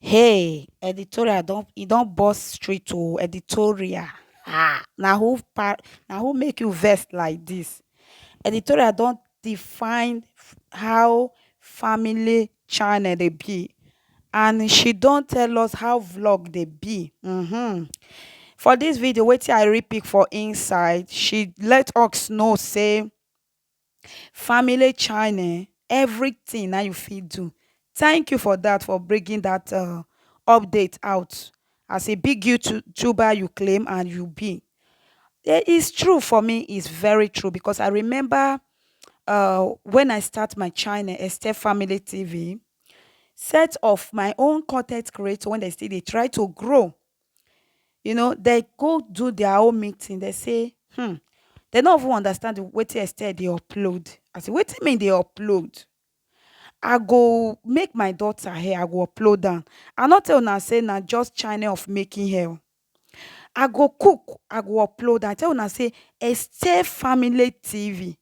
Hey editorial don e don burst street oo editorial um na who pa na who make you vex like this? Editorial don define how family channel dey be and she don tell us how vlog dey be um for this video wetin I really pick for inside she let us know sey family china um everything na you fit do thank you for that for bringing that um update out as a big youtuber you claim and you be um it's true for me it's very true because i remember um when i start my china esther family tv set of my own content creator when they still dey try to grow you know dem go do their own meeting dem say um dem no even understand wetin Estelle dey upload I say wetin me dey upload I go make my daughter hair I go upload am I no tell una say na just channel of making hair oo I go cook I go upload am I tell una say Estelle family TV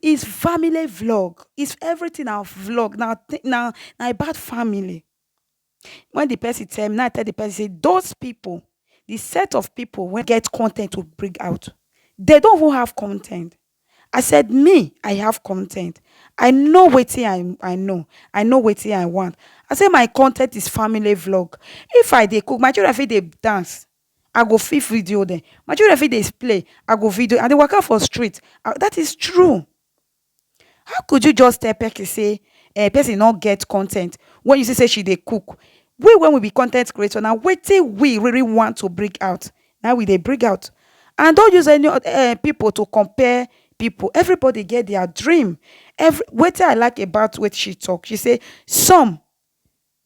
is family vlog is everytin na vlog na na about family wen di pesin tell me na I tell di pesin say dos pipo di set of pipo wey get con ten t to bring out dey don even have con ten t I said me I have con ten t I know wetin I know I know wetin I want I say my con ten t is family vlog if I dey cook my children fit dey dance. I go fit video dem. My children fit dey play, I go video dem. I dey waka for street, I that is true. How could you just tell person sey um person no get con ten t when you see sey she dey cook? We wey we be con ten t creator na wetin we really want to bring out na im we dey bring out and don't use any um pipu to compare pipu. Everybody get their dream. Every wetin I like about wetin she talk, she say some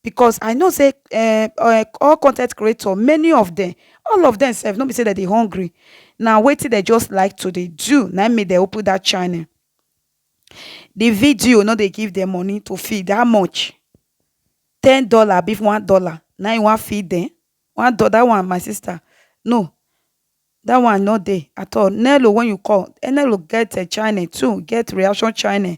because i know say eh eh all content creator many of them all of them sef no be say dem dey hungry na wetin dem just like to dey do na im make dem open that channel the video no dey give them money to feed how much ten dollar abi one dollar na im you wan feed them one dollar that one my sister no That one no dey at all. Nello when you call, eh, Nello get uh, channel too, get reaction channel.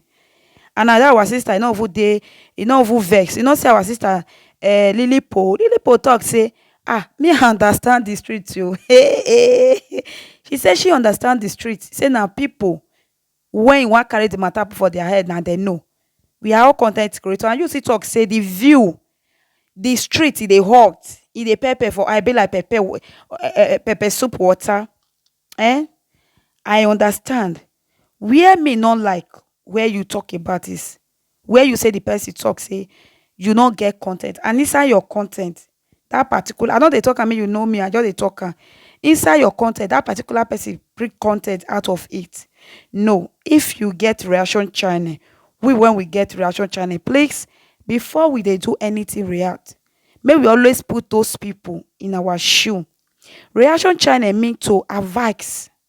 And now that our sister, you know who dey, you know who vex. You know say our sister, uh, Lily Po, Lily Po talk say, ah, me I understand the street too. Hey, hey. She say she understand the street. Say now people When you wan carry the matter put for their head na dem know we are all content creator and you still talk say the view the street e dey hot e dey pepper for eye be like pepper um pepper soup water um I understand where me no like where you talk about is where you say the person talk say you no get content and inside your content that particular i no dey talk am make you know me i just dey talk am inside your content that particular person bring content out of it no if you get reaction channel we when we get reaction channel please before we dey do anything react make we always put those people in our shoe reaction channel mean to advise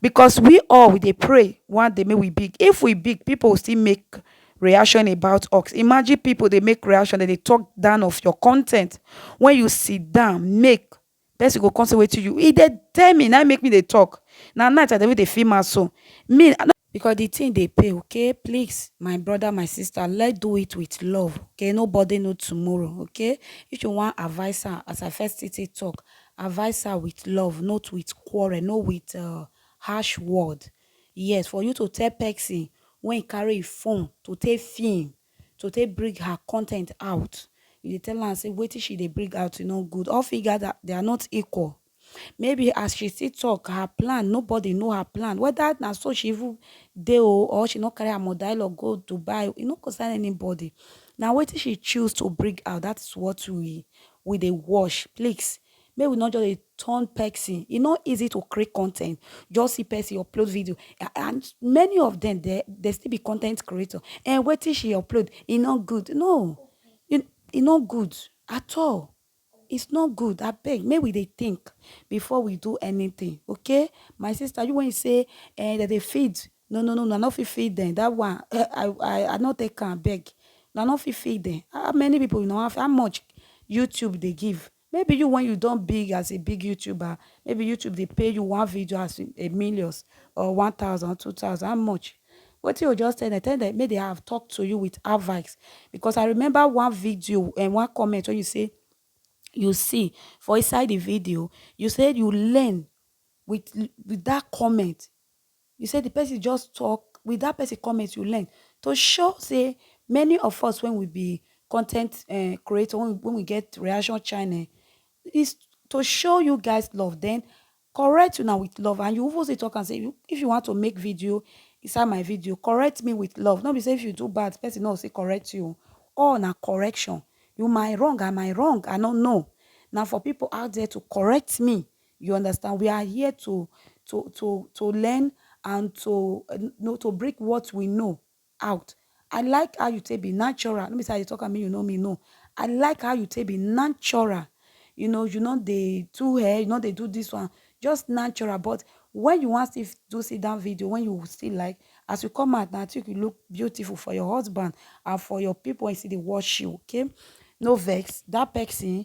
because we all we dey pray one day make we big if we big people will still make reaction about us imagine people dey make reaction dem dey talk down of your content when you sit down make person go come say wetin you e dey tell me na im make me dey talk na night i dey even dey feel am so me i no Because the thing dey pay okay please my brother my sister let do it with love okay nobody know tomorrow okay if you wan advise her as I first still take talk advise her with love not with quarrel no with uh, harsh word yes for you to tell person when carry phone to take film to take bring her content out you dey tell am say wetin she dey bring out e no good all fingers are they are not equal Maybe as she still talk her plan, nobody know her plan. Whether na so she even dey o or she no carry her mother-in-law go Dubai, e no concern anybody. Na wetin she choose to bring out, that is what we we dey watch. Please, make we no just dey turn person. E no easy to create content. Just see person upload video, a- and many of them dey dey still be content creator. And wetin she upload, e no good. No, e e no good at all. It's not good abeg make we dey think before we do anything okay my sister you wen you say eh dem dey feed no no no una no fit feed dem that one I I I no take am abeg una no fit feed dem how many people una wan feed how much YouTube dey give maybe you wen you don big as a big youtuber maybe YouTube dey pay you one video as a millions or one thousand or two thousand how much Wetin you just tell dem, tell dem make dem have talk to you with advice because I remember one video and one comment when you say you see for inside the video, you said you learn with with that comment. You said the person just talk with that person comment you learn to show say many of us when we be content uh, creator when we, when we get reaction channel is to show you guys love then correct una with love and you even still talk am say you- if you want to make video inside my video correct me with love no be say if you do bad person no go still correct you o. all na correction you my wrong and my wrong i no know na for people out there to correct me you understand we are here to to to to learn and to uh, know to bring what we know out I like how you take be natural no be say I dey talk am make you know me no I like how you take be natural you know you no dey do hair you no dey do this one just natural but when you wan still do sit down video when you still like as you come out na think you look beautiful for your husband and for your people wey still dey watch you okay no vex that person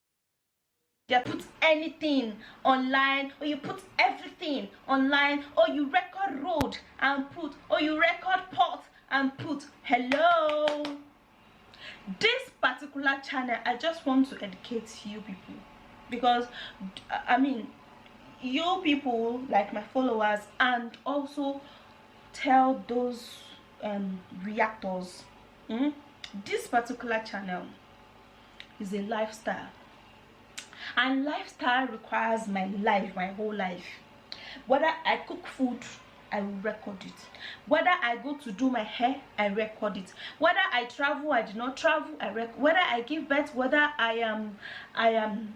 They put anything online or you put everything online or you record road and put or you record pot and put hello this particular channel i just want to educate you people because i mean you people like my followers and also tell those um, reactors mm, this particular channel is a lifestyle and lifestyle requires my life my whole life whether i cook food I will record it. Whether I go to do my hair, I record it. Whether I travel, I do not travel, I record. Whether I give birth, whether I am, I am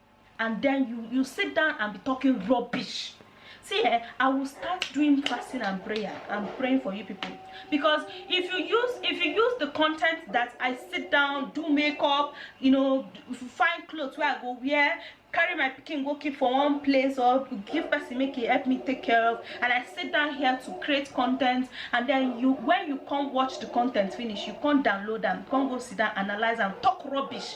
and then you you sit down and be talking rubbish see eh i will start doing fasting and prayer and praying for you people because if you use if you use the content that i sit down do makeup you know find clothes where i go wear carry my picking go keep for one place or give person make it help me take care of and i sit down here to create content and then you when you come watch the content finish you come download them come go sit down analyze and talk rubbish